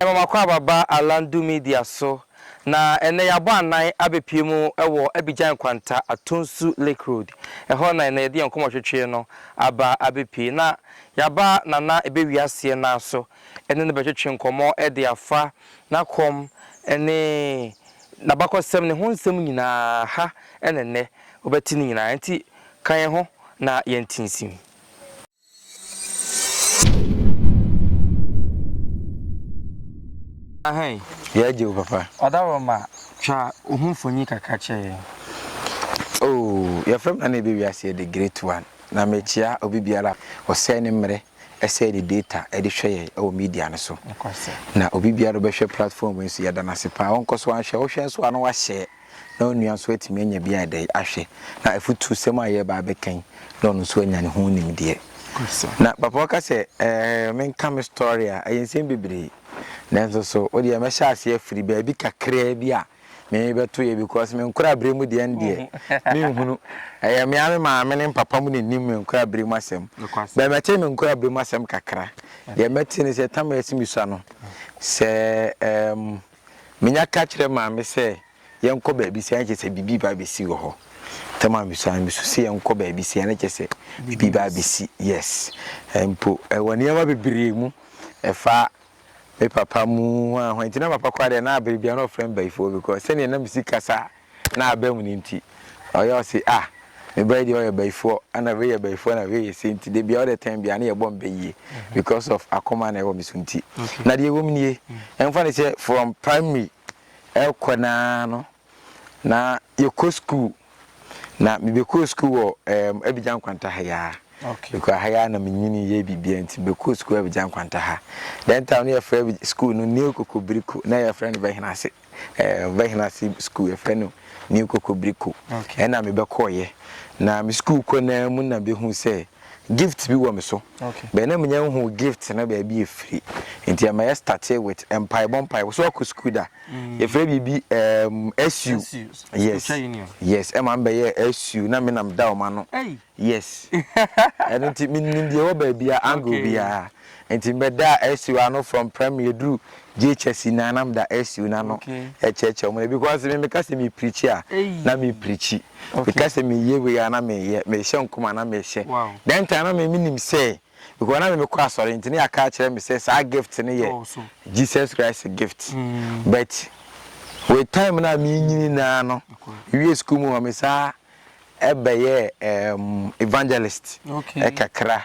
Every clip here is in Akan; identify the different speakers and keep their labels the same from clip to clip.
Speaker 1: Ɛma m'akwaaba ba Alandu Media so, na ɛnnɛ yɛabɔ anan abɛpue mu wɔ Abidjan Nkwanta, Atonsu Lake Road. Ɛhɔ na ɛnnɛ yɛde yɛn nkɔmmɔtwetweɛ no aba abɛpue. Na yɛaba Nana Ebɛ Wiaseɛ nan so ne no bɛtwetwe nkɔmmɔ de afa n'akɔm ne n'abakɔsɛm, ne ho nsɛm nyinaa. Ha na ɛnnɛ wobɛte ne nyinaa, enti ka yɛn ho na yɛntinsim. Ahen. Yɛ gye wo papa.
Speaker 2: Ɔda hɔ ma
Speaker 1: twa wo ho mfoni kakra kyerɛ yɛn.
Speaker 2: Oh yɛfrɛ me nana ɛbɛ wiase yɛ the great one na me kyea obi biara a ɔsɛe ne mmerɛ ɛsɛe ne data ɛde hwɛ yɛn ɛwɔ media no so na obi biara ɔbɛhwɛ platform yi nso yɛda no ase paa ɔnkɔ so anhwɛ wohwɛ nso a na wahyɛ na onua nso atumi anya bi a ɛda yi ahwɛ, na afutusɛm a yɛreba abɛka yi, na ɔno nso anya ne ho nimdeɛ. Na papa ɔka sɛ, ɛɛ, menka me story a, ɛyɛ nsɛm bebree. Nanso so, wo deɛ mɛhyɛ ase afiri baabi kakraa bi a mebɛto yɛ because me nkoraberɛ mu deɛ ndeɛ menhunu. Ɛyɛ me ara me maame ne me papa mu na ɛnim me nkoraberɛ mu asɛm. Bɛɛ mɛte me nkoraberɛ mu asɛm kakra. Deɛ mɛte ne sɛ Tamale Asimisu ano, sɛ, ɛɛm, Menya ka kyerɛ Maame sɛ yɛnkɔ baabi sei a na kyerɛ sɛ biribi reba abɛsi wɔ hɔ. Ntam a mesua no, mesu sɛ yɛnkɔ baabi sei a na kyerɛ sɛ biribi reba abɛsi. Yes. Mpo ɛwɔ nneɛma bebree mu. Ɛfa me papa mu, hwan hwan. Nti na papa koraa deɛ na bere biara na ɔfrɛ me bayifoɔ because sɛdeɛ na me si kasa a Na abam no nti ɔyɛ ɔse ah me ba yi deɛ ɔyɛ bayifoɔ ɛna wei yɛ bayifoɔ ɛna wei yɛ sei nti dabiaa ɔdɛ tɛn biaa ne yɛbɔ mpɛ yie because of akoma na ɛwɔ me so nti na deɛ ɛwɔ mu nie ɛmfa ne sɛ from primary ɛkɔ naa no na yɛkɔ school na mebɛkɔɔ school wɔ um, Abidjan Kwanta ha yaa okay. because ha yaa na menyini yɛ biribia nti mebɛkɔɔ school Abidjan Kwanta ha then time no yɛfrɛ school no Neo Kokobiriko na yɛfrɛ no Bɛhena ase eh, ɔbɛhena ase sukuu yɛfrɛ no new kokobriko ɛna mebɛkɔɔyɛ na me sukuu kɔ naa mu na bɛhu sɛ gift bi wɔ me so bɛɛ na menya hu gift na baabi ɛfiri nti ɛma yɛ starte with mpaebɔ mpaebɔ so akɔ sukuu da mm. yɛfrɛ biribi um, su yes yes ɛma mbɛyɛ su na menam da ɔma no Yes. Ɛno nti menim deɛ ɛwɔ baabiara angle biara. Nti mebɛdaa Ɛsiw ano from primary ɛduru JHS nyinaa na meda Ɛsiw no ano ɛkyerɛkyerɛ wɔn. Because me meka sɛ mepreachi a, na mepreachi. Meka sɛ meyɛ wei a, na meyɛ. Mehyɛ nkɔm a, na mehyɛ. That time na me menim sɛ, because na me mekɔ asɔre nti na yɛaka akyerɛ me sɛ saa gift no yɛ Jesus Christ gift. But with time no a merenyini no ara no, mewie school mu hɔ me saa bɛyɛɛ um, evangelist okay. kakra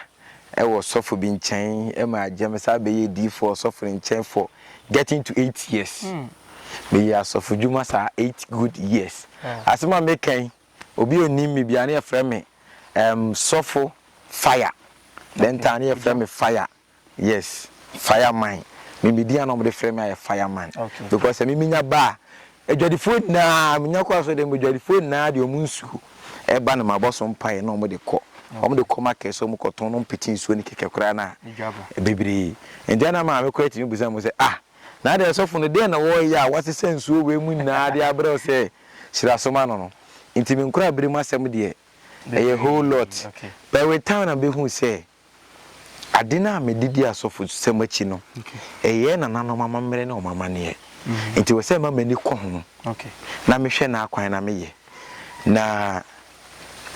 Speaker 2: wɔ sɔfo bi nkyɛn ma agye me saa bɛyɛ diifo ɔsɔfo no nkyɛn for getting to eight years hmm. meyɛ mm. asɔfo dwuma saa eight good years yeah. asɛm a mekan obi onim me bia ne yɛfrɛ me um, sɔfo fire dɛn taa ne yɛfrɛ me fire Yes fire man me me din a na wɔn de frɛ me ayɛ fire man okay. because ɛmi mi nya ba a adwadifoɔ nyinaa mi nya kɔ aso de mo adwadifoɔ nyinaa de wɔn nsuo ɛba na ma bɔ so mpaeɛ na wɔn de kɔ wɔn de kɔ market so wɔn kɔ tɔn na wɔn pete nsuo ne kɛkɛ koraa na bebree nti ɛna maame kɔ ɛtumi busa mo sɛ ah na adeɛ sɔfo no deɛ na wɔreyɛ a wɔasesa nsuo wei mu nyinaa de abrɛ sɛ hyirasoma no no nti mi nkora abiri mu asɛm deɛ ɛyɛ whole lot but with time na behu sɛ Ade no a mede di asɔfosɛm akyi no, ɛyɛ nananom amammerɛ ne wɔn amanneɛ. Mm-hmm. Nti wɔ sɛ ma m'ani kɔ ho na mehwɛ n'akwan na meyɛ. Na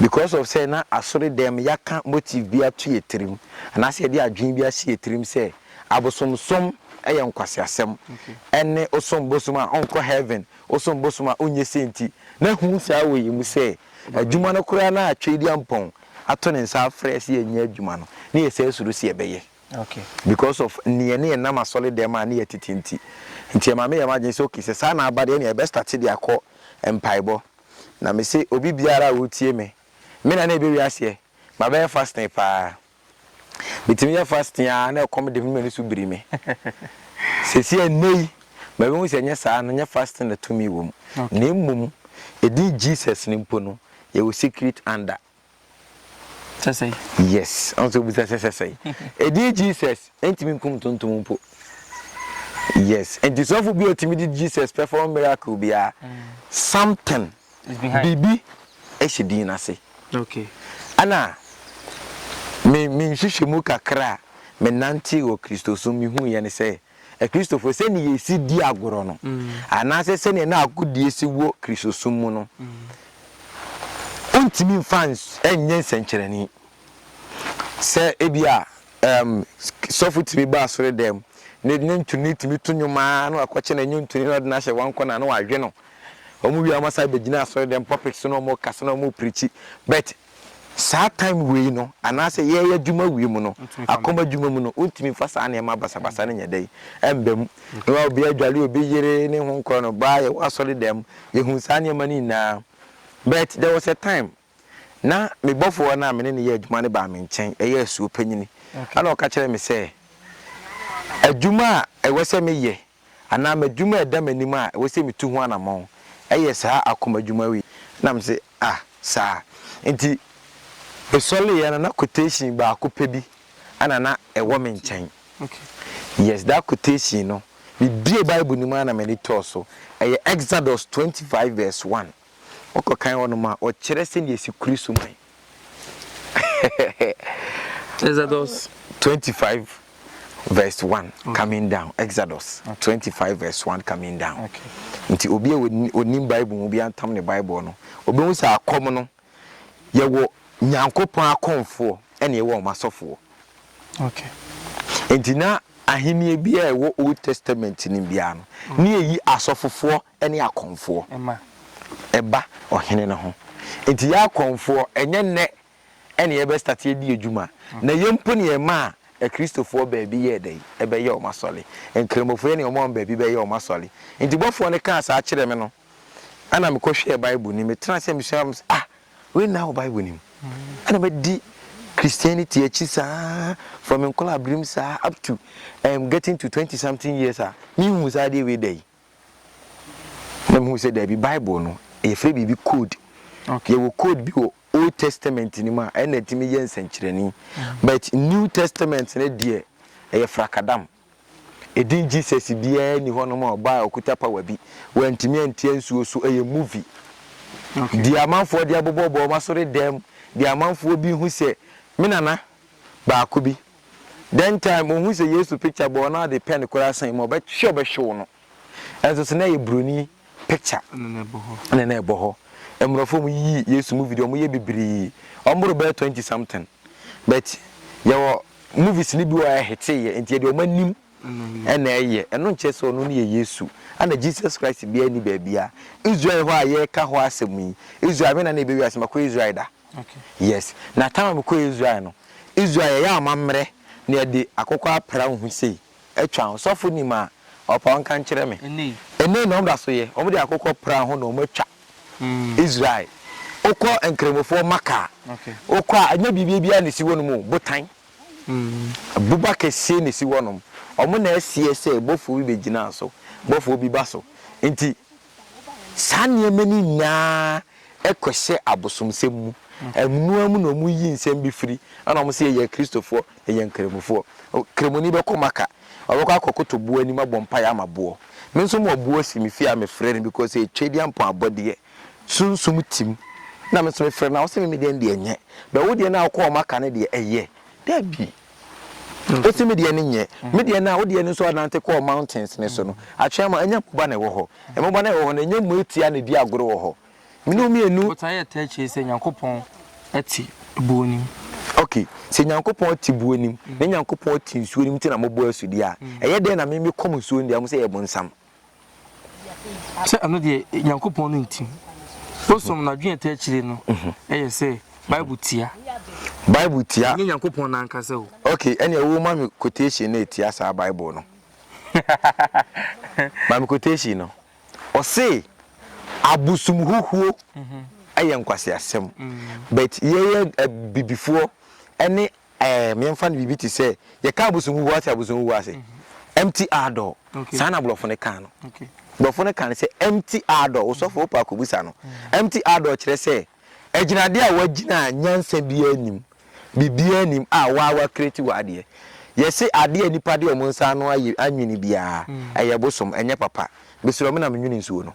Speaker 2: because of sɛ na asɔre dɛm yɛaka motive bi ato yɛ tirim anaasɛ yɛde adwene bi ahyɛ yɛ tirim sɛ abosomsom yɛ nkwaseasɛm ɛne osom bosom a ɔnkɔ heaven osom bosom a onyɛ sɛ nti na hu saa wɔ yɛ mu sɛ adwuma no koraa na atwere di ampɔn ato ne nsa afrɛ yɛ sɛ yɛnyɛ adwuma no, na yɛsan suro sɛ yɛbɛyɛ because of nea ne yɛnam asɔredɛm a ne yɛ tete nti. Nti ɛma meyɛ m'adwene sɛ okay, sɛ saa na aba deɛ ɛnneɛ yɛbɛ starte de akɔ mpaebɔ. Na mese obi biara a ɔretie me, me na na ɛbɛwie aseɛ, mabɛyɛ fasting paa. Metumi yɛ fasting ara na ɛkɔm de me na m'ani so biri me. Seesei ɛnnɛ yi, mahu sɛ ɛnyɛ saa no, ɛnyɛ fasting na tumi wɔ mu, na mmom edin Jesus no mpo no, yɛwɔ secret under. Sɛsɛe. Yes, ɔn sɛ obisa sɛ sɛsɛe. Edin Jesus ntumi nkum ntontom mpo. Yes, nti sɔfo bi a otumi de Jesus perform miracle biara, mm. something biribi hyɛ din no ase. Ɛna me me nhwehwɛmu kakra a menantee wɔ Kristosom mehuiɛ ne sɛ Akristofoɔ sɛdeɛ yɛsi di agorɔ no anaasɛ sɛdeɛ na agodie si wɔ Kristosom mu no wontumi mfa nyɛ nsɛnkyerɛnne sɛ ebi a um, sɔfo tumi ba asɔre dɛm ne ne ntoni tumi to nnwom a na wakɔkyɛ na ɛnyɛ ntoni na ɔde no ahyɛ wankɔ na na wadwe no Wɔn wie a wɔn asan bɛ gyina asɔre dɛm pulpit so na wɔn kasa na wɔn prikyi but saa time wei no anaa sɛ yɛyɛ adwuma wie mu no akɔm adwuma mu no wo ntumi nfa saa nneɛma basa basa no nyɛ dɛn ɛmba mu ne wa obi adwale obi yere ne ho nkɔrɔ no baa yɛ wɔ asɔre dɛm yɛ hu saa nneɛma no nyinaa but there was a time Na me bɔfoɔ no a me ne no yɛ adwuma no baa me nkyɛn, ɛyɛ asuo panyini, ɛna ɔka kyerɛɛ me sɛ, Adwuma a ɛwɔ sɛ meyɛ, anaa m'adwuma a ɛda m'anim a ɛwɔ sɛ metu ho anammɔn, ɛyɛ saa akoma adwuma wei. Na mese, Ah, saa. Enti mesɔreeɛ no, na quotation baako pɛ bi na na ɛwɔ me nkyɛn.
Speaker 1: Yes, that
Speaker 2: quotation no, mebue Bible no mu ara na m'ani tɔɔ so. Ɛyɛ Exodus twenty five verse one. Ɔkɔ kan hɔnom a, ɔkyerɛ sɛnea esi kuri suman. Exodus
Speaker 1: 25
Speaker 2: verse 1 mm. coming down. Exodus 25 verse 1 coming down. Nti obi
Speaker 1: a
Speaker 2: onim Bible mu bi antam ne Bible no, obehu sɛ akɔm no yɛwɔ Nyankopɔn akɔmfoɔ ɛna yɛwɔ wɔn asɔfoɔ.
Speaker 1: Nti
Speaker 2: na ahenni bi a ɛwɔ Old Testament no biara no, ne yɛyi asɔfofoɔ ne akɔmfoɔ ba ɔhene no ho. Nti yɛ akɔmfoɔ ɛnyɛ nnɛ na yɛbɛ start adi adwuma. Na yɛ mpo na yɛmaa akristofoɔ baabi yɛɛ dɛn? Ɛbɛyɛɛ wɔn asɔre. Nkramofo yɛ na wɔmaa wɔn baabi bɛyɛɛ wɔn asɔre. Nti bɔfoɔ no kaa saa kyerɛɛ me no, ɛna me kɔhwɛɛ Bible no mu. Metenaa ase na mesuaa mu sɛ, ah, wei nna wɔ Bible no mu. Ɛna madi Christianity akyi saa from nkɔlaaberem saa up to um, getting to twenty something years a, menhuu saa adeɛ wei da yi. Na mehuu sɛ daabi, Bible no, yɛfrɛ biribi code. Yɛwɔ code bi wɔ Old Testament no mu a ɛna ɛtumi yɛ nsɛnkyerɛnne. But New Testament no deɛ, ɛyɛ frakadam. Edin Jesus biara nni hɔnom a ɔbaa a ɔkuta power bi. Wantumi antia nsuo so. Ɛyɛ movie. Deɛ amanfoɔ de abobɔbobɔ wɔn asɔredan mu, deɛ amanfoɔ bi hu sɛ, Me nana, Baako bi. Then time ohun sɛ Yesu picture bɔɔ no ade pɛ no koraa san mu a, ɔbɛhwe ɔbɛhwew no. Ɛnso so na ɛyɛ Buroni picture na na ɛbɔ hɔ. Mmorɔfo a wɔyiyi Yesu movie deɛ wɔyɛ bebree. Wɔboro bɛyɛ twenty something. But yɛwɔ movies no bi wɔ hɔ a ɛheteeɛ nti ɛdeɛ wɔanim na ɛyɛ. Ɛno nkyerɛ sɛ ɔno no yɛ Yesu. Ɛna Jesus Christ biara nni baabiara. Israel hɔ a yɛreka hɔ asɛm yi, Israel, wɛn na na ɛbɛ wiase? Makɔ Israel da. Yes
Speaker 1: na time
Speaker 2: a me kɔ Israel no Israel yɛ yɛ amamerɛ na yɛ de akokɔ apra nhu sei atwa ho sɔfo nim a ɔpa ɔnka nkyerɛ me ɛnei na ɔmo da so yɛ ɔmo de akokɔ pra ho na ɔmo atwa Israel okɔ nkramofoɔ maka a okɔ a
Speaker 1: ɛnyɛ biribia
Speaker 2: biara na esi hɔ nom o botan boba kɛseɛ na esi hɔ nom ɔmo na ɛseɛ sɛ bɔfoɔ bi bɛ gyina so bɔfoɔ bi ba so nti Saa nneɛma no nyinaa kɔhyɛ abosomsɛm mu. Amonoa mu na wɔyi nsɛm bi firi, ɛnna wɔse yɛyɛ Akristofoɔ, yɛyɛ Nkramofoɔ. Kramoni bɛkɔ Maka, ɔbɛkɔ akɔkoto boɔ anim abɔ mpaeɛ ama boɔ. Me nso mewɔ boɔ si me fie a mefrɛ no because ɛyɛ Twadiampɔn abɔdeɛ, sunsum tim, na me nso mefrɛ no, na wɔse me medeɛ no deɛ ɛnyɛ. But wo deɛ no a wokɔɔ Maka no deɛ, ɛyɛ? Dabi! Wosi me deɛ no nyɛ. Me deɛ no a, wo deɛ no nso anante kɔɔ mountains no so no, atwea mu a, ɛnyɛ mmoba na ɛwɔ hɔ. Mmoba no a ɛwɔ hɔ no, ɛnyɛ mmoa tia na ɛdi agorɔ wɔ hɔ. Mene wo mmienu. Botaeɛ a ɛtaa akyire sɛ
Speaker 1: Nyankopɔn te buo anim. Ok,
Speaker 2: sɛ Nyankopɔn te buo anim, na Nyankopɔn te nsuo anim nti na mobɔ asu deɛ a, ɛyɛ dɛn na me mekɔm nsuo no deɛ, ɔmo sɛ ɛyɛ bonsam.
Speaker 1: sɛ ɛno deɛ nyankopɔn no ntim wosom no adwene ɛta akyire no mhm. ɛyɛ sɛ bible tia bible tia ɛnyɛ nyankopɔn no ankasa o ok ɛneɛ wo ma
Speaker 2: me quotation no ɛtia saa bible no ma me quotation no ɔse abosom huhuo mhm. ɛyɛ nkwaseasɛm mhm. but yɛyɛ abibifoɔ ɛne Ɛɛm, yɛmfa no biribi te sɛ, yɛka abosonhuhuo a, woate abosonhuhuo ase? Empty our door. Saa na Borɔfo no kaa no. Borɔfo no kaa
Speaker 1: no sɛ,
Speaker 2: empty our door. Wo sɔfo, wopɛ a kɔbisa no. Empty our door kyerɛ sɛ, agyinadeɛ a woagyina a nyansa biara nnim, biribiara nnim a wo ara woacreate w'adeɛ. Yɛse adeɛ a nnipa de wɔn nsa ano ayɛ, anwene biara, ɛyɛ bosom, ɛnyɛ papa. Mesrɛ wo, menam nwene nsuo no.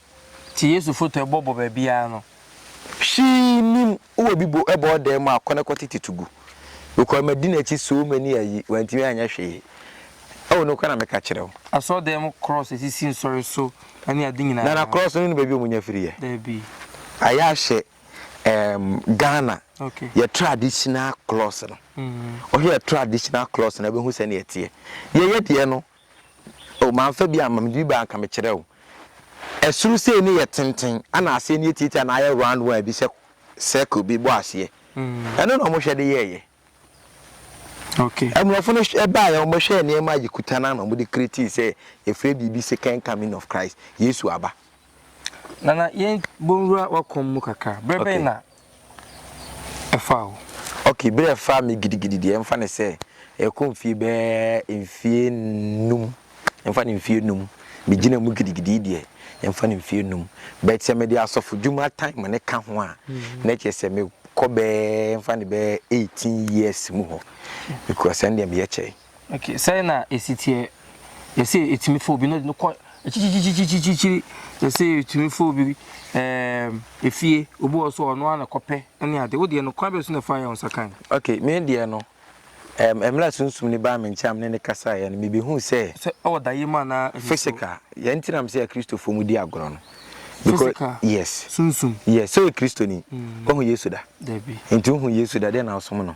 Speaker 2: Te Yesu foto
Speaker 1: ɛbɔ bɔ baabiara no. Hwee
Speaker 2: nnim wɔ bi bo ɛbɔɔ dan mu a kɔ na kɔ tete to gu because ma di nakyi so many ayi wantumi anyɛ hwee ɛwɔ nokora na meka kyerɛ wo. Asɔre dan mu cross
Speaker 1: ɛsisi nsɔre so ɛne ade nyinaa. Nana cross no ne baabi ɔmo nya
Speaker 2: firi yɛ. Dabi.
Speaker 1: Ayɛ ahyɛ
Speaker 2: ɛɛm Ghana Okay. yɛ
Speaker 1: traditional
Speaker 2: cross no. Wohwɛ yɛ traditional cross no a wobɛhu sɛnea ɛteɛ. Deɛ yɛyɛ deɛ no Oh manfa bi amma mede bi baa anka mekyerɛ wo ɛsoro sei no yɛ tenten ɛna aseɛ no yɛ tiatia na ayɛ round one bi sɛ circle bi bɔ aseɛ ɛno na wɔhwɛ de yɛɛyɛ
Speaker 1: okay ɛmorɔfo no
Speaker 2: ɛbaeɛ wɔhwɛɛ nneɛma a yɛkuta no ana wɔde creating sɛ yɛfrɛ biribi second coming of Christ Yesu aba Nana
Speaker 1: yɛn bɔ nwura wakɔm mu kakra berɛ bɛn na ɛfaa wo? Ok
Speaker 2: berɛ a ɛfaa me gidigidi deɛ mfa no sɛ ɛkɔ mfie bɛɛ mfie num mfa no mfie num me gyina mu gidigidi deɛ mfa no mfie num but sɛ mede asɔfo dwuma time ne ka ho a na ɛkyɛ sɛ me kɔ bɛɛ mfa no bɛɛ eighteen years mu hɔ because ɛndeɛ meyɛ kyɛe. Okay, sɛn na
Speaker 1: esi teɛ? Yɛsɛ etumi fa obi na ɔde no kɔ akyirikyirikyirikyirikyiri. Yɛsɛ etumi fa obi ɛɛm efie, obi wɔ so ɔno ara na kɔpɛ ɛne ade. Wo deɛ no kwan bɛ so na ɛfa yɛ wo nsa kan? Okay, me deɛ no,
Speaker 2: ɛɛm mmerɛ a Sunsum no baa me nkyɛn a me ne no kasaeɛ no, mebɛhuu sɛ. Sɛ ɛwɔ daeɛ mu anaa
Speaker 1: nsuo? Physical, yɛn nti
Speaker 2: na mese Akristofoɔ mu di agorɔ no. Because, Physical, yes, sunsum. yes, sɛ
Speaker 1: ɔyɛ Kristoni,
Speaker 2: wahu Yesu da? Dabi. Nti wohu
Speaker 1: Yesu da,
Speaker 2: deɛ na wosom no?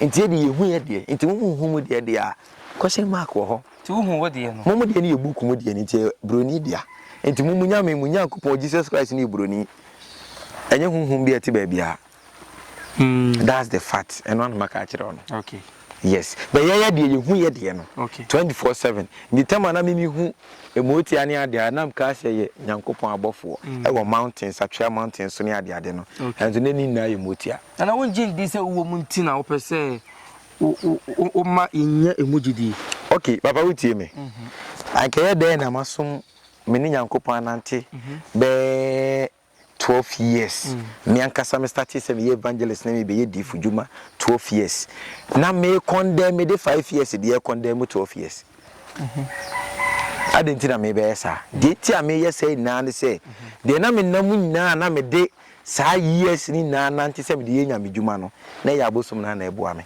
Speaker 2: Nti yɛ deɛ yɛhu yɛ deɛ, nti mo monhu mo deɛ deɛ a, question mark wɔ hɔ. Nti wohu wo deɛ no? Mo
Speaker 1: mo deɛ no yɛ book mu deɛ no,
Speaker 2: nti ɛyɛ Buroni dea. Nti mo mo Nyame, mo Nyankopɔn, Jesus Christ no yɛ Buroni. Ɛnyɛ honhom bi a ɛte baabiara. That's the fact. Ɛno ara na maka akyerɛ wo no. Okay. Yes.
Speaker 1: But yɛ
Speaker 2: yɛ deɛ yɛhu yɛ deɛ no. Okay. 24/7.
Speaker 1: Nti
Speaker 2: tam a na mimi hu ɛmootia ne adeɛ a, na mkaa sɛ yɛ Nyankopɔn abɔfoɔ ɛwɔ mountains, Atwea mountains so ne adeade no. Okay. Ɛnso na ne nyinaa yɛ mootia. na na wongye ndi sɛ wowɔ
Speaker 1: mu nti na wopɛ sɛ woma yɛnya ɛmu gyidi. Ok, papa wotie
Speaker 2: me. Mhm. Anka ɛyɛ dɛn na masom me ne Nyankopɔn anante mhm. bɛɛ 12 years. Mm. Me ankasa me startee sɛ meyɛ evangelist na mebɛyɛ diifo dwuma 12 years. Na me kɔndɛn me de 5 years deɛ kɔndɛn mu 12 years. Mhm. adɛn nti na mebɛyɛ saa deɛ nti a meyɛ sɛ nyinaa ne sɛ deɛ na menam nyinaa na mede saa years no nyinaa nante sɛ mede yɛ Nyame dwuma no na ɛyɛ abosom no ara na ɛboa me.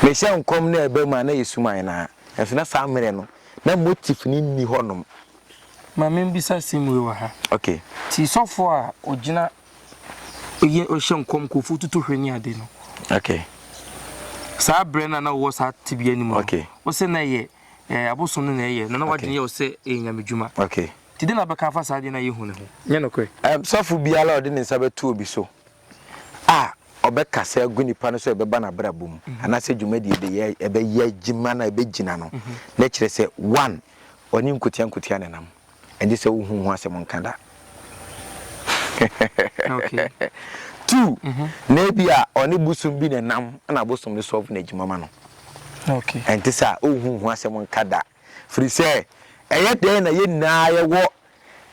Speaker 2: Mehyɛ nkɔm na ɛba mu a na ɛyɛ suman no ara, nanso na saa mmerɛ no na motif no nni hɔ nom. Ma me
Speaker 1: mbisa asɛm wei wɔ ha. Okay. Ti
Speaker 2: sɔfoɔ a
Speaker 1: ɔgyina yɛ ɔhyɛ nkɔm nkurɔfoɔ tutu hwɛ ne ade no. Okay. Saa berɛ no a na wowɔ saa tebea no mu no. Okay. Wo sɛ na ɛyɛ eh, abosom no na ɛyɛ na na wadwene yɛ wo sɛ ɛyɛ nyamedwuma. Okay. Nti dɛn na
Speaker 2: wobɛka afa
Speaker 1: saa adwene no a yehu no ho? Nyɛ nokorɛ. Sɔfo biara a ɔde
Speaker 2: ne nsa bɛto obi so a ɔbɛkasa agu nipa no so a ɛbɛba n'abrabɔ mu anaasɛ dwumadi a ɛbɛyɛ a ɛbɛyɛ adwuma no a ɛbɛgyina no, na ɛkyerɛ sɛ, one, ɔne nkotia nkotia na ɛnam. Ɛnde sɛ wohu ho asɛm nka da.
Speaker 1: Okay. Two,
Speaker 2: na ebia ɔne bosom bi na ɛnam na bosom no solve n'adwuma ma no. Okay.
Speaker 1: Ɛnte saa a, wohu
Speaker 2: ho asɛm nka da. Firi sɛ, ɛyɛ dɛn na yɛn nyinaa yɛwɔ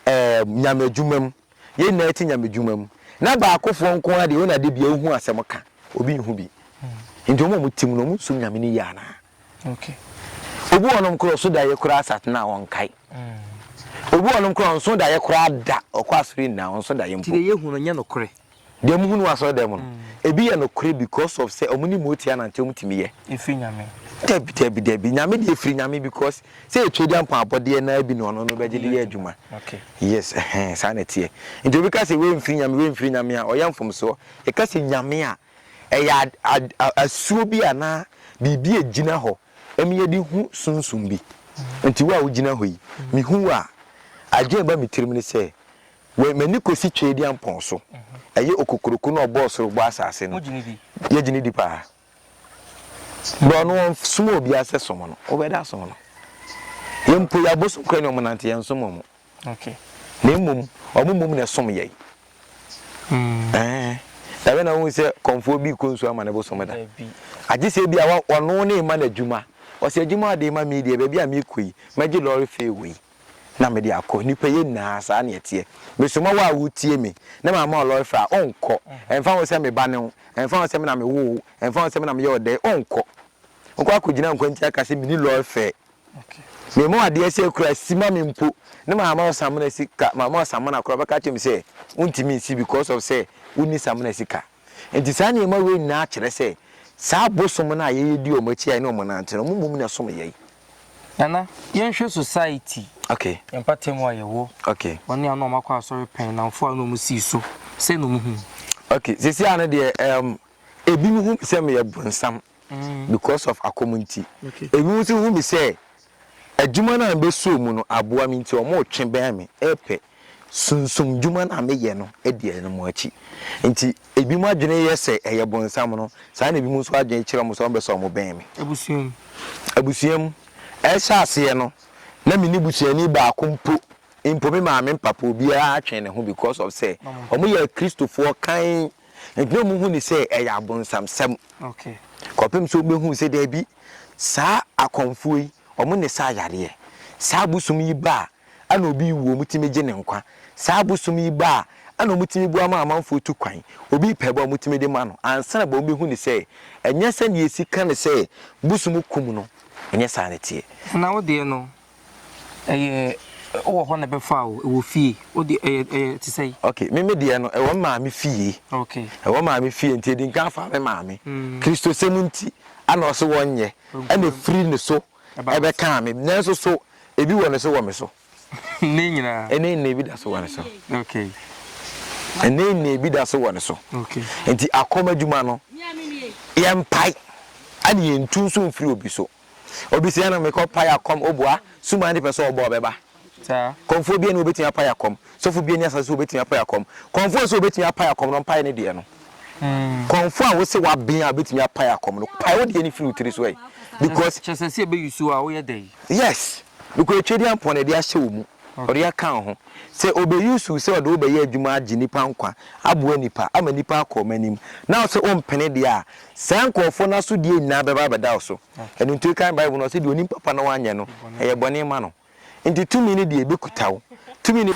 Speaker 2: ɛɛm, Nyame adwuma mu, yɛn nyinaa yɛte Nyame adwuma mu, na baakofoɔ nko ara deɛ wɔn ade bia wɔhu asɛm ka, obi nhu bi. Nti wɔn a wɔte mu no, wɔn nsom Nyame no yie anaa?
Speaker 1: Obi wɔ
Speaker 2: hɔnom koraa ɔso daeɛ koraa sat no a ɔnkae. Obi wɔ hɔnom koraa ɔnso daeɛ koraa da, ɔkɔ asɔre nyinaa ɔnso daeɛ mpo. Nti deɛ yɛhu no nyɛ nokorɛ.
Speaker 1: Deɛ muhunu wɔ
Speaker 2: asɔredan mu no, ebi yɛ nokorɛ because of sɛ wɔne Motia nante wɔn tumi yɛ. Efiri Nyame.
Speaker 1: Dabi dabi dabi
Speaker 2: Nyame deɛ efiri Nyame because sɛ yɛ Twediampɔn abɔdeɛ naa bi na ɔno no bɛgye de yɛ adwuma. Okay. Yes
Speaker 1: ɛhɛn
Speaker 2: saa na ɛteɛ. Nti obi ka sɛ wei nfiri Nyame wei nfiri Nyame a ɔyɛ nfomsoɔ. Yɛka sɛ Nyame a ɛyɛ ad ad asuo bi anaa biribi a ɛgyina hɔ ɛma yɛde hu sunsum bi. Nti wo a wogyina hɔ yi mehu wo a adwene a ɛba me tirim ne sɛ Wei, m'ani kɔsi Tweediampɔn so. Ɛyɛ okokuroko no a ɔbɔɔ soro bɔɔ asase no. Wogye no di? Yɛgye no di paa. Berɛ ɔno ɔnsomaa obiara sɛ som no, wobɛda asom no. Yɛn mpo, yɛn abosom koraa ni a wɔnante, yɛnsom wɔn.
Speaker 1: Na mmom,
Speaker 2: wɔn mmom na ɛsom yɛn. Ɛbɛ na wohu sɛ kɔmfoɔ bi rekɔ nsuo ama ne bosom da. Agye sɛ bi a wɔno ne rema no adwuma. Ɔsɛ adwuma a ɔde rema me deɛ, baabi a merekɔ yi, mɛgye lɔre fee wei. na mede akɔ nnipa yɛ nyinaa saa na ɛteɛ mesoma wo a wotie me na mama ɔlɔefrɛ a ɔnkɔ ɛmfa ho sɛ me ba ne wo ɛmfa ho sɛ me na mewo wo ɛmfa ho sɛ me na meyɛ ɔdɛe ɔnkɔ ɔkɔ akɔgyina nkwanti aka sɛ meni lɔefrɛ mema wo adeɛ sɛ kura si ma me mpo ne mama wo samena sika mama wo samena kora bɛka kyɛm sɛ wontumi nsi because of sɛ wonni samena sika Enti saa nneɛma wei nyinaa kyerɛ sɛ saa abosom no a yɛyɛ di wɔn akyi a yɛne wɔn nante no, wɔn mmom na ɛsom yɛn. Nana,
Speaker 1: yɛnhwɛ society, Okay, yɛn mpatamu
Speaker 2: a yɛwɔ,
Speaker 1: okay, wɔn a na
Speaker 2: wɔakɔ asɔre
Speaker 1: pɛn, nnamfo a na wɔsii so, sɛn na wɔhu? okay, seesei ara
Speaker 2: no deɛ, ɛɛm, ebinom hu me sɛ meyɛ bronsam. because of akɔm nti. Ebinom nso hu me sɛ adwuma no a mebɛsɔɔ mu no aboa me nti wɔretwe bɛn me, repɛ sunsum dwuma no a meyɛ no adi ɛno mu akyi. Nti ebinom adwene yɛ sɛ ɛyɛ bonsam no, saa na ebinom nso adwene kyerɛ wɔn sɛ wɔbɛsɔ wɔn bɛn me. Abusua mu. Abusua mu. Ɛrehyɛ aseɛ no, na me ne busuani baako mpo, mpo me maame mpapa, obiara twe ne ho because of sɛ wɔyɛ Akristofoɔ kann. Enti na wɔhu no sɛ ɛyɛ abonsamsɛm
Speaker 1: kɔpem sɛ wɔbɛhuu
Speaker 2: sɛ daabi, saa akɔmfoɔ yi, wɔn na ɛsaa yareɛ. Saa bosom yi ba a, ɛna obi rewu a wɔtumi gye ne nkwa. Saa bosom yi ba a, ɛna wɔtumi boa ma amanfoɔ tu kwan. Obi repɛ ba a wɔtumi de ma no. Ansa na ba no bɛhu no sɛ ɛnyɛ sɛdeɛ yɛsi ka no sɛ bosom kum no, ɛnyɛ saa na ɛteɛ. Na wo deɛ no,
Speaker 1: Ɛyɛ wowɔ hɔ na ɛbɛfa o, ɛwɔ fie, wo deɛ ɛyɛ ɛyɛ te sɛ. Ok, me me deɛ no
Speaker 2: ɛwɔ me maame fie. Ok. Ɛwɔ maame
Speaker 1: fie nti
Speaker 2: ɛdi nkan fa me maame. Mm. Kristosɛm nti ɛna ɔse wɔnyɛ, ɛna ɛfiri ne so ɛbɛkaa me, nanso so ebi wɔ ne so wɔ me so? Nnɛ nyinaa.
Speaker 1: Nnɛ nyinaa ebi da so wɔ ne
Speaker 2: so. Ok. Nnɛ nyinaa ebi da so wɔ ne so. Ok. Nti
Speaker 1: akɔm adwuma
Speaker 2: no yɛmpae ɛna yɛntu nso mfiri obi so. Obi se na mekɔ pae akɔm obua sum ade pɛ sɛ ɔbɔ ɔbɛba saa kɔmfoɔ
Speaker 1: bia ni obetumi
Speaker 2: apae akɔm sɔfo bia ni asase so obetumi apae akɔm kɔmfoɔ nso obetumi apae akɔm no mpae ne deɛ no kɔmfoɔ a wose waben a obetumi apae akɔm no pae wo deɛ ne firi wo tiri so ɛ because kyɛ sɛ sɛ ebe yusu
Speaker 1: a woyɛ dɛ yes because
Speaker 2: etwe deɛ mpɔn ɛde ahyɛ wo mu ɔde aka wo ho sɛ obe yusu sɛ ɔde wo bɛyɛ adwuma agye nipa nkwa aboa nipa ama nipa akɔ ɔma anim na ɔsɛ ompene deɛ a Saa nkurɔfoɔ no asodeɛ nyinaa bɛba abɛda wo so. Ɛno nti wokan Bible no a, ɔse deɛ ɔnim papa na wanyɛ no, ɛyɛ bɔne ma no. Nti tumi no deɛ ɛbɛkuta wo. Tumi no.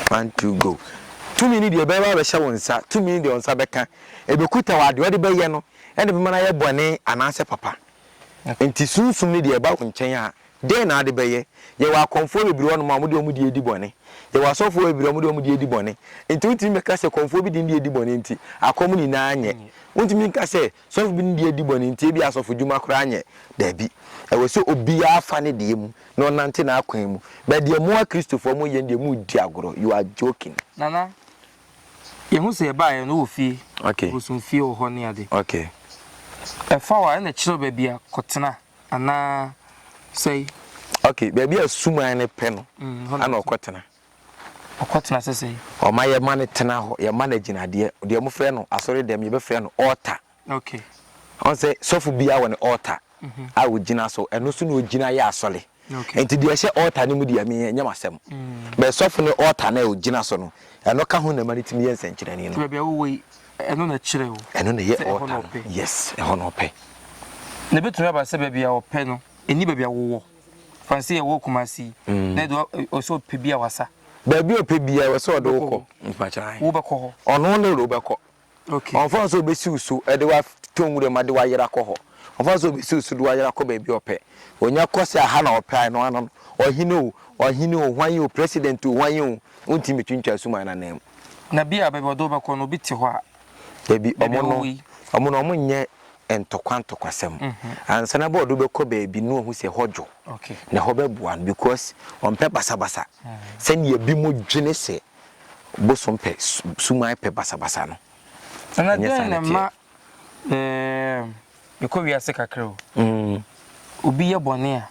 Speaker 2: One, two, go. Tumi no deɛ ɛbɛba abɛhyɛ wo nsa. Tumi no deɛ wo nsa bɛka. Ɛbɛkuta wo adeɛ ɔde bɛyɛ no, ɛna ɛbɛma no ayɛ bɔne anaasɛ papa. Nti sunsum no deɛ ɛba wo nkyɛn a, Dɛn na ade bɛyɛ? Yɛwɔ akɔmfoɔ bebree hɔnom a wɔde wɔn deɛ redi bɔne. Yɛwɔ asɔfoɔ bebree a wɔde wɔn deɛ redi bɔne. Enti wontumi bɛka sɛ kɔmfoɔ bi de ne deɛ redi bɔne nti, akɔm nyinaa nyɛ. Wontumi nka sɛ sɔfo bi ne deɛ redi bɔne nti, ebia asɔfodwuma koraa nyɛ. Dabi. Ɛwɔ sɛ obiara fa ne deɛ mu na ɔnante n'akwan mu. But deɛ mo Akristofoɔ moyɛ no deɛ, moredi agorɔ. You are joking. Nana,
Speaker 1: yɛhu sɛ yɛbaeɛ no wowɔ fie, Okay. bosomfie wɔ hɔ
Speaker 2: ne
Speaker 1: ade. Okay.
Speaker 2: Ɛfa
Speaker 1: wo a, ɛna kyerɛw baabi a kɔtena. anaa sɛe? Okay, baabi
Speaker 2: a suman no pɛ no ana ɔkɔtena. Ɔkɔtena
Speaker 1: sɛ sɛe? Ɔma yɛma
Speaker 2: no tena hɔ, yɛma no agyinadeɛ. Deɛ wɔfrɛ no asɔre dɛm, yɛbɛfrɛ no altar. Okay.
Speaker 1: Ɔn sɛ
Speaker 2: sɔfo biara wɔ ne altar mhm. a ɔgyina so, ɛno so na ɔgyina yɛ asɔre. Okay. Nti deɛ ɛhyɛ
Speaker 1: altar no
Speaker 2: mu deɛ me ɛnyɛ m'asɛm. Mm. Bɛɛ sɔfo ne altar na ɔgyina so no, ɛno ka ho na ɛma no tumi yɛ nsɛnkyerɛnne no. Baabi a wowɔ yi, Ɛno
Speaker 1: na ɛkyerɛ o. Ɛno na ɛyɛ altar no.
Speaker 2: Yes, ɛhɔ na ɔpɛ. Na ebetumi
Speaker 1: aba sɛ baabi a ɔpɛ no, ɛni baabi a wowɔ. Fansi yɛ wɔ Kumasi yi, mm. na ɛdo ɔsɛ ɔpɛ bi a wasa. Baabi a ɔpɛ bi
Speaker 2: a ɔsɛ ɔde wokɔ. Wobɛkɔ hɔ. Ɔno
Speaker 1: ne ro bɛkɔ.
Speaker 2: Okay. Ɔnfa nso
Speaker 1: obesiw
Speaker 2: so ɛde wa to nwura mu de wa yera kɔ hɔ. Ɔnfa nso obesiw so de wa yera kɔ baabi ɔpɛ. Onya kɔ sɛ aha na ɔpɛ ano ano. Ɔhene o, ɔhene o, hwan yi o, president o, hwan yi o, ntumi twintwa suman na nan mu. Na bi a baabi ɔde
Speaker 1: wo bɛkɔ no obi te hɔ a. Dabi, Baabi a ɔmo no,
Speaker 2: wowɔ yi. ɔmo no ɔmo nyɛ ntɔkwa ntɔkwasɛm. Ansa na bi a ɔde wo bɛkɔ baabi no ohu sɛ hɔ dwo Okay. na hɔ
Speaker 1: bɛboa no
Speaker 2: because ɔmpɛ basabasa sɛnea bi mo dwene sɛ bosom pɛ, su, suman pɛ basabasa no. Na Ɛnyɛ saa dɛn
Speaker 1: na na ɛteɛ. ɛma Eeeemm yɛkɔ wiase kakra o mm. Obi yɛ bɔne a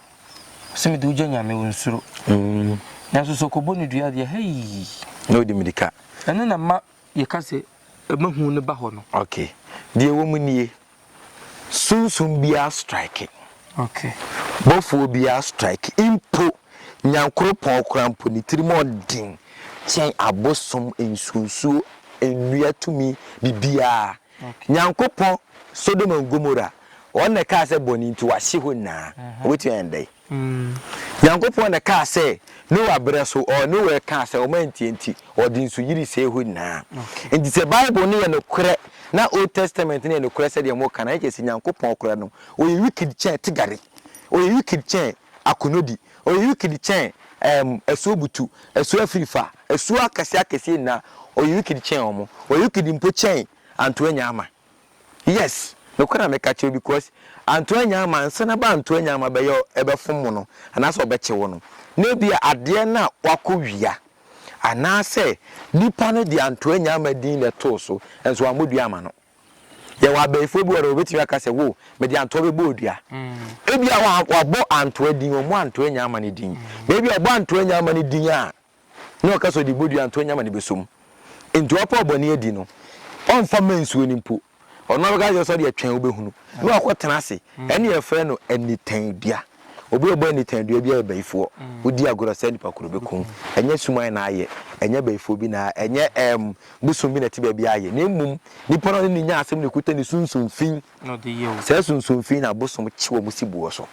Speaker 1: sɛ mede wogya nyame wo nsuro mm. Nanso sɛ ɔkɔbɔ ne dua deɛ hei na ɔdi mirika
Speaker 2: ɛno na ma
Speaker 1: yɛka sɛ ɛmahu no ba hɔ no okay. Deɛ wɔ
Speaker 2: mu nie sunsum biara strike okay.
Speaker 1: Bɔfoɔ
Speaker 2: biara strike mpo Nyankoropɔn koraa mpo, ne tirim yɛ den kyɛn abosom nsuonsuo nnua tumi bibiara. Nyankopɔn, Sodom and Gomora, Ɔno na ɛkaa sɛ bɔne nti wɔahye hɔ nyinaa. Wɔbɛtumi ayɛ no dɛn? Nyankopɔn na ɛkaa sɛ Noa berɛ so, ɔɔ Noa ɛkaa sɛ wɔn antie nti Ɔde nsu yiri sɛe hɔ nyinaa. Nti sɛ Bible no yɛ nokorɛ na Old Testament no yɛ nokorɛ sɛdeɛ moka no a, ɛkyerɛ sɛ Nyankopɔn koraa no, Ɔyɛ wicked kyɛn tigari. Ɔyɛ wicked kyɛn Akonodi, ɔyɛ wikidi kyɛn ɛɛm asuo butu, asuo afiri fa, asuo akɛseɛ akɛseɛ nyinaa, ɔyɛ wikidi kyɛn wɔn, ɔyɛ wikidi mpo kyɛn Antoa Nyaama. Yes, nokorɛ na meka kyerɛ wo because Antoa Nyaama ansa na ba Antoa Nyaama bɛyɛ ɛbɛfom wo no anaasɛ ɔbɛkye wo no, na ebia adeɛ no a wakɔ wia anaasɛ nipa no de Antoa Nyaama din na ɛtoo so nso wammɔ dua amma no. Yɛwɔ abayifoɔ bi wɔ hɔ wɔbɛtumi aka sɛ wo mede antoa bɛbɔɔ dua. Ebia wabɔ antoa din, wɔmmɔ antoa nyaama no din. Na ebia ɔbɔ antoa nyaama no din a na ɔka sɛ ɔde bɔ dua antoa nyaama no bɛsɔ mu. Nti ɔpɛ ɔbɔne adi no, ɔmfa mma nsuo no mpo. Ɔno abɛka sɛ sɛ ɔde atwɛn wobɛhunu na wakɔtena ase. Ɛne yɛfrɛ no anitandua. Obi a ɔbɔ anitan dua biara yɛ bayifoɔ. Wodi agorɔ sɛ nipa koro bɛku wo. Ɛnyɛ suman na ayɛ, ɛnyɛ bayifoɔ bi na, ɛnyɛ ɛɛm bosom bi na ɛte baabi ayɛ, na mmom nipa no a ɔne no nya asɛm na ekuta ne sunsum fi. Saa
Speaker 1: sunsum fi yi na
Speaker 2: bosom kye wɔn si boɔ so.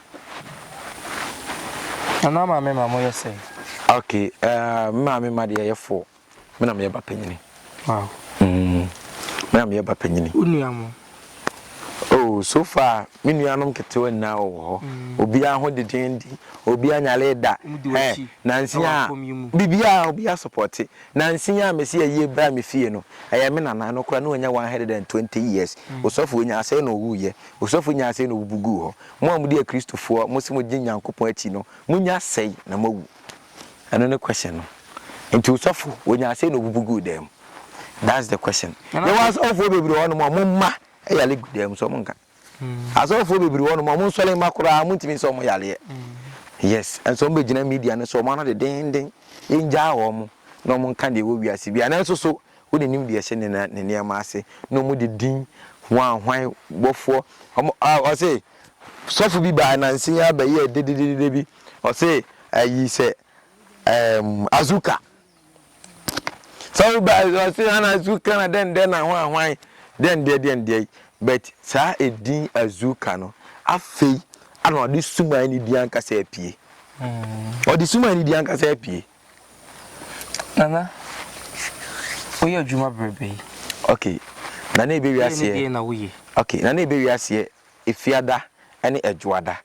Speaker 1: Nana maame ma moyɛ sɛn? Okay,
Speaker 2: ɛɛm me maame ma deɛ yɛyɛ four. Me na meyɛ ba panyini. Wow.
Speaker 1: Mm,
Speaker 2: me na meyɛ ba panyini. Wo nua mo? Oh, so far me nuanom ketewa nyinaa wɔ hɔ. Mm. Obiara ho deden di. Obiara nyale da. Eh, nansi a bibiara obiara supporte. Nansi a mesi yɛ yie bra me fie no. Ɛyɛ me nana no kora no anya 120 years. Mm. Osɔfo onya asɛe na owu yɛ. Osɔfo nya asɛe na obubu gu hɔ. Mo a mo di akristofoɔ, mo se mo gye Nyankopɔn akyi no, mo nya asɛe na mo awu. Ɛno ne question no. Nti osɔfo onyaa sei na obubu guu dan mu. That's the question. Yɛwɔ asɔfoɔ bebree hɔ nom a ɔmo mma yale gu dan mu so ɔmo nka. Asɔfoɔ bebree hɔ nom a ɔmo nsɔre mma koraa ɔmo ntumi nsa ɔmo yareɛ. Yes, ɛnso ɔmo bɛgyina media no so ɔmo ano dedenden. Yɛngyaa ɔmo na ɔmo nka deɛ ɛwɔ wiase biara. Nanso so wo na nim deɛ ɛhyɛ ne ne nneɛma ase na ɔmo de din hwan hwan bɔfoɔ ɔmo ah ɔse sɔfo bi baa nansa yi ara bɛyɛɛ dededede bi Ɔse ayi sɛ ɛɛm Azuka sɛ woba ɔse ana Azuka na dɛn dɛn na hwan hwan dɛn deɛ dɛn deɛ yi but saa edin Azuka no afei ana ɔde suman ne din ankasa apue hmm. ɔde suman ne din ankasa apue nana woyɛ adwuma bebrebe okay nana ebe wiaseɛ okay nana ebe wiaseɛ Efiada ne Adwoada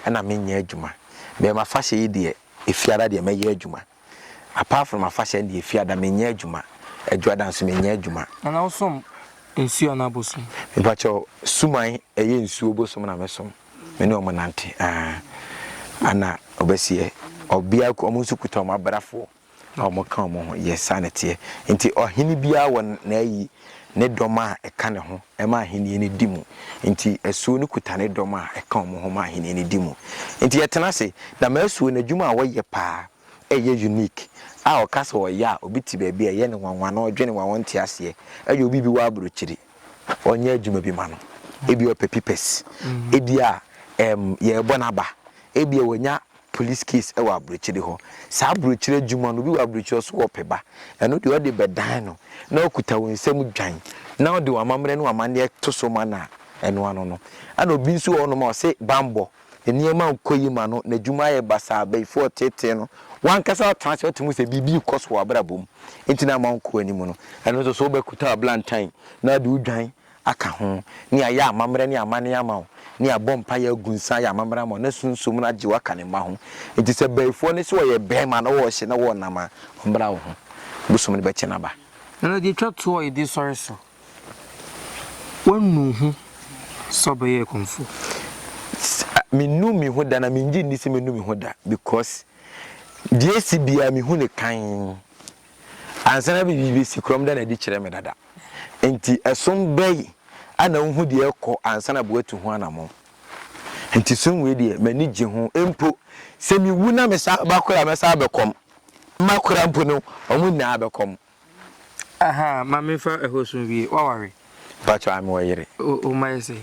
Speaker 2: na menyɛ adwuma. Bɛyɛ m'afahyɛ yi deɛ, Efiada deɛ mɛyɛ adwuma. Apart from afahyɛ no deɛ, Efiada menyɛ adwuma. Adwoada nso menyɛ adwuma. Nana wo som nsuo anaa bosom? Mepakyɛw, suman ɛyɛ nsuo bosom na me som. Me ne wɔn nante, aah. Ana ɔbɛseɛ, obiara, wɔn nso kuta wɔn abrafoɔ. Na wɔka wɔn ho, Yɛ saa na ɛteɛ. Enti ɔhene biara wɔ n'ayi, ne dɔm a ɛka ne ho ma ahenni no di mu. Enti asuo no kuta ne dɔm a ɛka wɔn ho ma ahenni no di mu. Enti yɛtena ase. Dama asuo no, adwuma a wɔyɛ paa ɛyɛ unique a ɔka sɛ ɔyɛ a, obi te baabi a ɛyɛ no nwanwa na ɔdwene wɔn a wɔnte aseɛ. Ɛyɛ obi bi wɔ aburokyiri, ɔnyɛ adwuma bi ma no. Ebia ɔpɛ pipɛs, ebia ɛɛm yɛrebɔ n'aba, ebia wanya police case ɛwɔ abrokyire hɔ saa abrokyire adwuma no obi wɔ abrokyire ɔso wɔ pɛ ba ɛno deɛ ɔde bɛ dan no na ɔkuta wɔn nsam dwan na ɔde wɔn amammerɛ no amaneɛ to so ma na ɛno ano no ɛna obi nso wɔ hɔnom a ɔse bambɔ nneɛma nkɔ yi ma no na adwuma ayɛ basaa abɛyifoɔ ɔtetee no wankasa ɔtena ase ɔte mu sɛ biribi rekɔ so wɔ abrabɔ mu nti na ama ɔnkɔ anim no ɛno nso so wobɛkuta ablantan na ɔde wo dwan aka ho, ne ayɛ amammerɛ ne amanneɛ ama wo, ne abɔ mpaeɛ agu nsa ayɛ amammerɛ ama wo, na Sunsum no agye wo aka ne mma ho. Enti sɛ bayifoɔ no se wɔyɛ barima na wɔwɔ hye na wɔwɔ nam a, ɔmmra wo ho. Bosom no bɛkyɛ no aba. Ɛno deɛ twa toɔ
Speaker 1: a yɛde sɔre so. Woanu wo ho sɛ wobɛyɛ ɛkɔmfoɔ? Sɛ
Speaker 2: mennu me ho da na mengye nni sɛ mɛnu me ho da because deɛ ɛsi biara mehu no kann. Ansa na biribi besi korɔm da no adi kyerɛ me dada. Enti ɛsom bɛn a na wuhu deɛ ɛrekɔ ansa na woatu ho anammɔn? Enti som wei deɛ, m'ani gye ho. Mpo sɛ miwu na mesan ba koro a, mɛsan abɛkɔm. M'akora mpo no, wɔn nyinaa bɛkɔm. Ahaa,
Speaker 1: ma memfa ɛhɔ som wie. Woaware? Mpakyɛw ame wɔ
Speaker 2: yere. Oh oh mayɛ sɛ yi.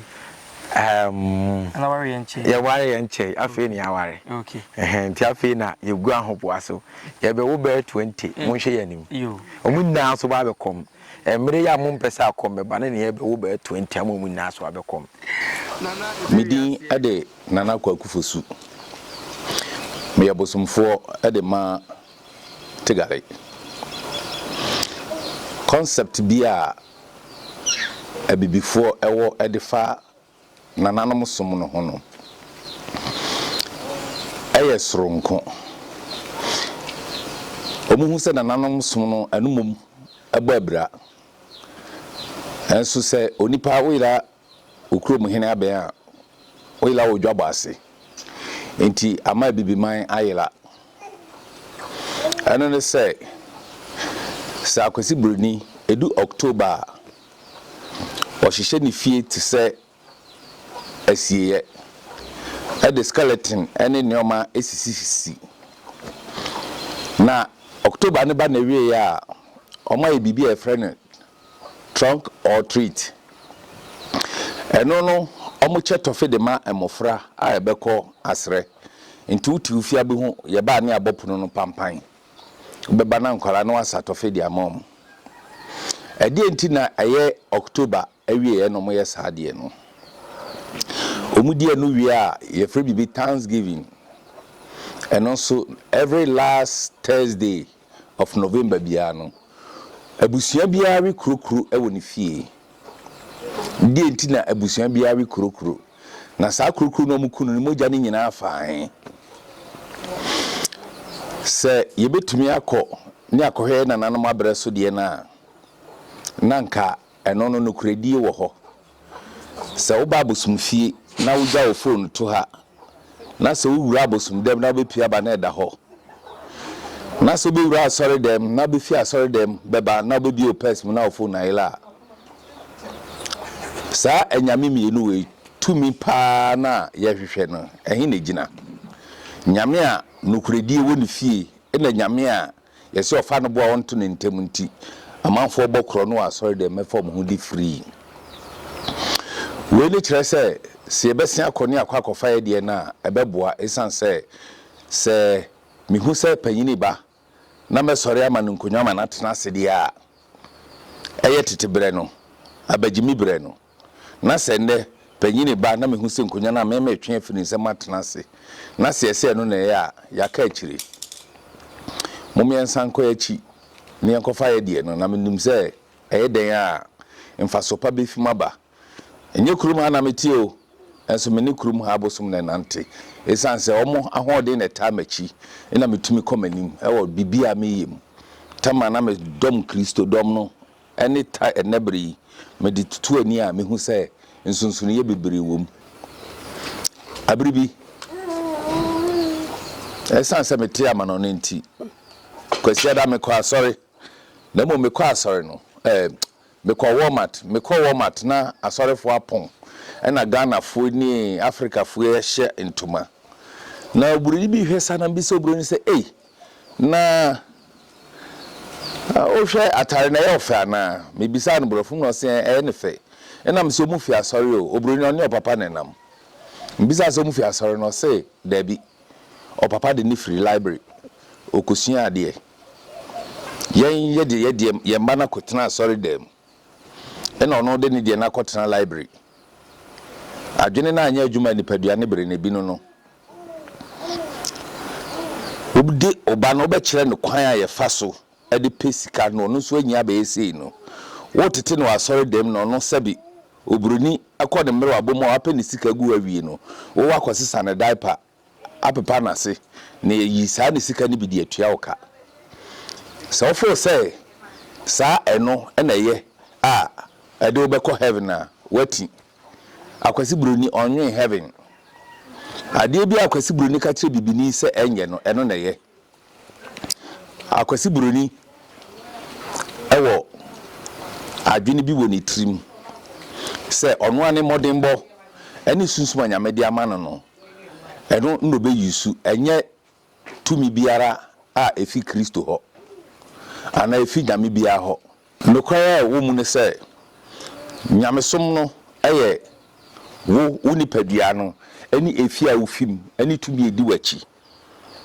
Speaker 1: Ɛɛm. Ana ware yɛ nkyɛe. Yɛ ware yɛ nkyɛe
Speaker 2: afei na yɛ aware. Okay. Ɛhɛn nti
Speaker 1: afei na
Speaker 2: yɛ gu ahoboa so. Yɛ bɛ wo bɛyɛ twenty mo nhwɛ yɛ anim. Yo. Ɔmo nyinaa
Speaker 1: so ba abɛ
Speaker 2: kɔm. Ɛmere yɛ a mo mpɛ sɛ akɔm bɛ ba no na yɛ bɛ wo bɛyɛ twenty ama ɔmo nyinaa so abɛ kɔm. Nana
Speaker 3: ɛbɛ wie aseɛ. Me din de Nana Kwaku Fosu. Me yɛ bosomfoɔ de ma Tigare. Concept bi a abibifoɔ wɔ de fa nananom som no ho no yɛ soronko. Wɔhu sɛ nananom som no ɛno mmom bɔ abira. Nanso sɛ onipa woyera wo kurom hene abɛn a, woyera wɔ dwabɔ ase. Enti ama abibiman ayera. Ɛno ne sɛ, sɛ Akwasi Buroni, ɛdu October a, ɔhyehyɛ ne fie te sɛ asieeɛ, ɛde skeleton ne nneɛma sisisisi. Na October no ba n'awieeɛ a, wɔayɛ biribi a wɔfrɛ no Trunk or treat, Ɛno no wɔkyɛ tɔfe de ma mmofra a yɛbɛkɔ asrɛ. Nti wote ofia bi ho, yɛba a ne yɛabɔ pono no pampan. Wobɛba na nkwadaa no asa tɔfe de ama wɔn. Ɛdeɛn nti na ɛyɛ October awieeɛ na wɔyɛ saa adeɛ no? Wɔdi ɛno wie a, yɛfrɛ biribi Thanksgiving. Ɛno nso, every last Thursday of November biara no, abusua biara we kurokuro wɔ ne fie. Deɛ nti na abusua biara we kurokuro, na saa kurokuro no wɔku no no mogya no nyinaa fa he? Sɛ yɛbɛtumi akɔ ne akɔhwɛ yɛ nananom aberɛ so deɛ no a, na nka Ɛno no, nokorɛdie wɔ hɔ. Sɛ woba abosomfie na wogya wo fon to ha, na sɛ wowura abosomdam na wobɛpue aba na ɛda hɔ, na sɛ wobɛwura asɔredam na wobɛfiri asɔredam bɛba na wobɛbue wo pɛs mu na wo fon ayera a, saa anyame mmienu wei tumi paa no a yɛhwehwɛ no, ɛhe na ɛgyina? Nyame a nokorɛdie wɔ ne fie na nyame a Yɛse ɔfa no boa ɔnto no ntɛm nti amanfoɔ bɔ korɔ no wɔ asɔre dɛm mɛfa ɔmo ho di free. Wei ne kyerɛ sɛ se yɛbɛse akɔ ne akɔ akɔfa yɛdeɛ no a ɛbɛboa esiane sɛ sɛ mehu sɛ panyini ba na mɛsɔre ama no nkonwa ma no atena ase deɛ a ɛyɛ tete berɛ no abagyimi berɛ no. Na sɛ nnɛ, panyin reba na mihu sɛ nkonnwa no a me meretwe afi ne nsam atena ase, na sɛ ɛsɛ sɛ ɛno na ɛyɛ a, yɛaka akyiri. Momma yɛnsan nkɔ yɛn akyi na yɛnkɔfa yɛn deɛ no, na minim sɛ ɛyɛ dɛn a, mfaso pa befi mu aba. Ɛnyɛ kurom ha na mete o, nanso me ne kurom ha abosom na ɛnante. Esiane sɛ wɔn ahoɔden na ɛtaa m'akyi nti na mitumi kɔ m'anim wɔ biribiara a mereyɛ mu. Tamar, na me dɔm Kristodɔm no ne ta ɛnnɛ bere yi, mede tutu ani a mihu sɛ nsonsonoe bebree wom. Bere bi, esiane sɛ metee amanɔnne nti, Kwasiada mekɔɔ asɔre, na mmom mekɔɔ asɔre no, ɛɛ, mekɔɔ Walmart. Mekɔɔ Walmart na asɔrefo apɔn, ɛnna Ghanafo ne Afrikafo ahyɛ ntoma. Na oburoni bi hwɛ saa na mibisa oburoni no sɛ, Ei, Na wohwɛ atare no ɛyɛ wo fɛ anaa? Mebisaa no borɔfo mu na ɔse ɛɛ ɛyɛ ne fɛ. Ɛna mese ɔmo fi asɔre o, obroni ɔne ɔpapa na ɛnam. Mebisaa sɛ ɔmo fi asɔre no ɔse daabi, ɔpapa de ne firi library ɔkɔsua adeɛ. Yɛn yɛde yɛ deɛ yɛn mma no akɔtena asɔre dan mu ɛna ɔno de ne deɛ no akɔtena library. Adwene no anyɛ adwuma nipadua ne bere na ebi no no. Obi de ɔba no wobɛkyerɛ no kwan a yɛfa so de pɛ sika na ɔno nso anya abɛyɛ sei no. Wotete no wɔ asɔredam na ɔno sɛbe oburoni kɔ ne mmerewabɔ mu a wapɛ ne sika gu hɔ awie no, wowɔ akɔsesa ne diaper, apepa n'ase na yɛayi saa ne sika no bi de atua wo ka. Sɛ wofeel sɛ saa ɛno na ɛyɛ a ɛde wobɛkɔ heaven a, woati. Akwasi broni ɔnwen heaven. Adeɛ biara akwasi broni ka kyerɛ bibini sɛ ɛnyɛ no ɛno na ɛyɛ. Akwasi broni ɛwɔ adwene bi wɔ ne tirim sɛ ɔno ara ne mmɔdenbɔ ɛne sunsum a Nyame de ama no no ɛno na ɔbɛ use ɛnyɛ tumi biara a efi Kristo hɔ anaa efi nyame biara hɔ. Nokware a ɛwɔ mu ne sɛ, nyamesom no yɛ wo, wo nipadua no ne efie a wufi mu ne tumi a edi w'akyi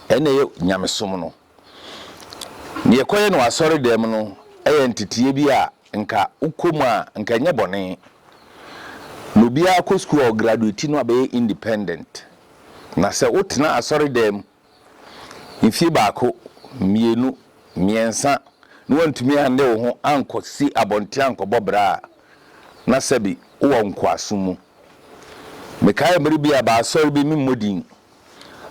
Speaker 3: na ɛyɛ nyamesom no. Nea ɛkɔyɛ no wɔ asɔredan mu no yɛ ntetee bi a anka wokɔ mu a anka ɛnyɛ bɔne. Na obiara kɔ sukuu a ɔgraduati no abɛyɛ independent. Na sɛ wotena asɔredan mu mfie baako, mmienu, mmiɛnsa na woantumi annde wo ho ankɔsi abɔnten ankɔbɔ bra a, na sɛbe wowɔ nkoasom mu. Mekae mmere bi a baasɔre bi, memmɔ din,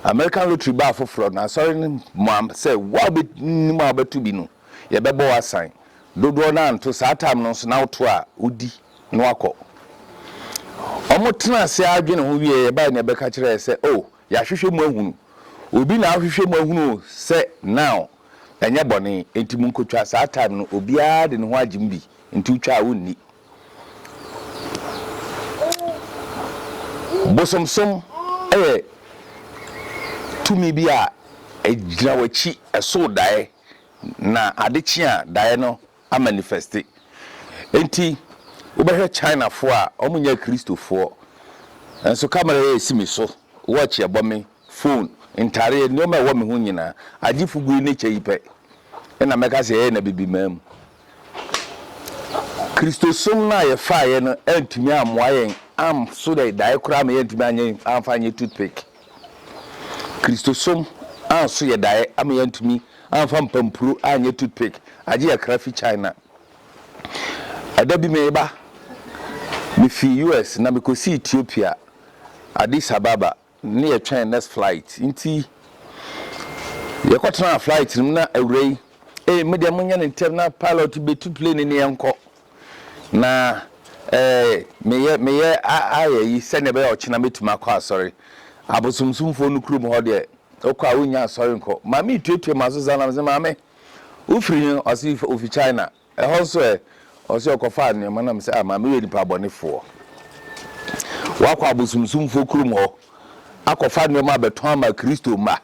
Speaker 3: American Lottery baa foforɔ na asɔre no moa sɛ wo a wobɛnim a wobɛto bi no, yɛbɛbɔ wo asan dodoɔ no anto saa time no nso na woto a wodi na wakɔ ɔmo tena ase ara dwene ho wieɛ yɛbae na yɛbɛka kyerɛ yɛ sɛ oh yɛahwehwɛ mu ahunu obi na ahwehwɛ mu ahunu sɛ now ɛnyɛ bɔne enti mo nkotwa saa time no obiara de ne ho agyem bi nti wotwa a wonni bosomsom ɛyɛ tumi bi a ɛgyina w'akyi ɛso daeɛ. Na ade kye a daeɛ no amanifɛste. Enti wobɛhwɛ Chinafoɔ a wɔnyɛ Akristofoɔ nso, kamera yi a ɛsi me so, watch a ɛbɔ me, fon, ntareɛ, nneɛma a ɛwɔ me ho nyinaa, agye fugu yi ne kyɛ yi pɛ na mɛka sɛ yɛyɛ no Abibiman mu. Kristosom no a yɛfaeɛ no antumi ammoa yɛn amso daeɛ koraa ma yɛantumi amfa anyɛ toothpick. Kristosom a so yɛ daeɛ ama yɛantumi amfa mpampuro anyɛ toothpick agye akra fi China. Ɛda bi mereba, mefii US na mekɔsii Ethiopia, Addis Ababa, na yɛtwɛn next flight nti yɛkɔtenaa flight no mu na awurai, Ei, me deɛ monyɛ no ntɛm na pilot bɛtu plane no yɛnkɔ. Na meyɛ meyɛ ayeyi sɛdeɛ ɛbɛyɛ a ɔkyena mɛtumi akɔ asɔre. Abosomsomfoɔ no kurom hɔ deɛ, wokɔ a wonnya asɔre nkɔ. Maame yi tuatua m'aso saa na mese, Maame, wofiri he? Ɔse ofi China. Ɛhɔ nso ɛ? Ɔse ɔkɔfaa nnoɔma na mese, ah maame woyɛ nipa bɔnefoɔ. Woakɔ abosomsomfoɔ kurom hɔ akɔfa nnoɔma abɛtɔn ama Kristo mma.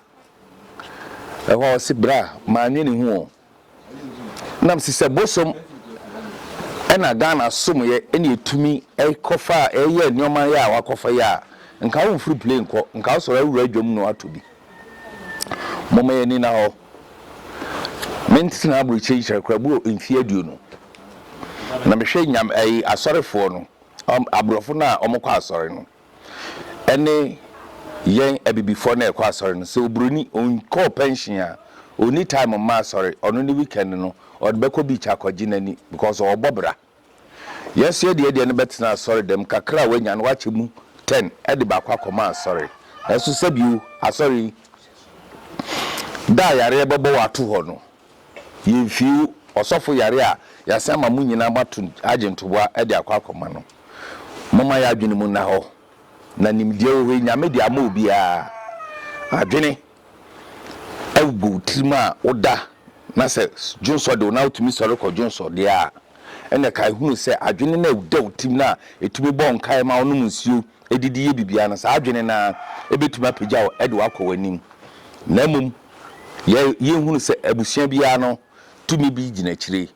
Speaker 3: Ɛhɔ ɔse, Bra, mannwene ho o. nam si sɛ bosom na Ghana somyɛ na etumi kɔfa yɛ nneɛma yɛ a wakɔfa yɛ a, nka wo mfiri plane kɔ, nka wo sɔre awura dwam no atɔ bi. Moma yɛn ani na hɔ. Me ntena aburokyire nkyerɛ kora bu mfie aduonu. Na mehwɛ nyam, ayi, asɔrefoɔ no, aborɔfo no a wɔkɔ asɔre no. Ɛne yɛn abibifoɔ na ɛkɔ asɔre no, sɛ oburoni, ɔnkɔɔ pɛnhyen a, ɔnni time mma asɔre, ɔno ne weekend no, ɔde bɛkɔ beach akɔgye n'ani because ɔrebɔ bra. Yɛn so yɛ deɛ yɛdeɛ no bɛtena asɔre dɛm, kakra a wanya no wakyɛ mu ten de baako akɔma asɔre. Nanso sɛbio, asɔre yi, da a yareɛ bɛbɔ wo ato hɔ no, Yɛmfii ɔsɔfo yare a yɛasan ama mo nyinaa moato agye ntoboa de akɔ akɔma no. Momma yɛn adwene mu nna hɔ, na nimdeɛ wɔ hɔ yi, Nyame de ama obiara. Adwene agu wo tirim a woda, na sɛ dwonsɔ de wo na wotumi sɔre kɔ dwonsɔ deɛ a, ɛnneɛ kae hunu sɛ adwene no a ɛda wo tirim no a ɛtumi bɔ nkae ma wonom nsuo, didi yɛ biribiara no, saa adwene no ara betumi apagya wo de wo akɔ w'anim. Na mmom, yɛ yɛhunu sɛ abusua biara no tumi bi gyina akyire.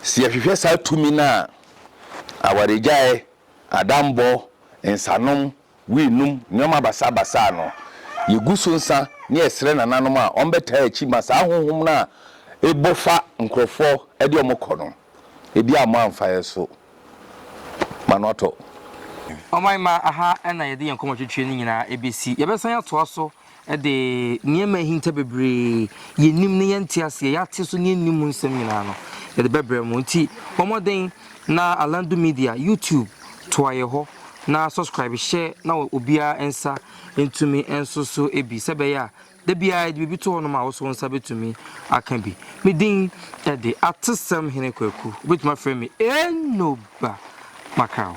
Speaker 3: Sɛ yɛhwehwɛ saa tumi no a, awaregyae, adammɔ, nsanom, wii nom, nneɛma basabasa a no, yegu so nsa na yɛsrɛ nananom a wɔbɛtaa akyi ma saa honhom no a ɛbɔ fa nkurɔfoɔ de wɔn kɔ no, ebia wɔamfa yɛn so. ma no atɔ.
Speaker 1: Ɔman mma aha na yɛde yɛn nkɔmɔtwetwe no nyinaa bɛsi. Yɛbɛsan atoa so de nneɛma a ahinta bebree, yɛnnim na yɛnte aseɛ, yɛate so na yɛnnim mu nsɛm nyinaa no, yɛde bɛbrɛ mo. Nti bɔ mmɔden na Alandu Media YouTube toa yɛn hɔ na subscribe hyɛ na obiara nsa ntumi nso so bi sɛ ɛbɛyɛ a Da biara yɛde biribi to hɔnom a wo nso wo nsa betumi aka bi. Me din de Atesɛm Hene Kwaku. Wobetumi afrɛ me Enoba Makraw.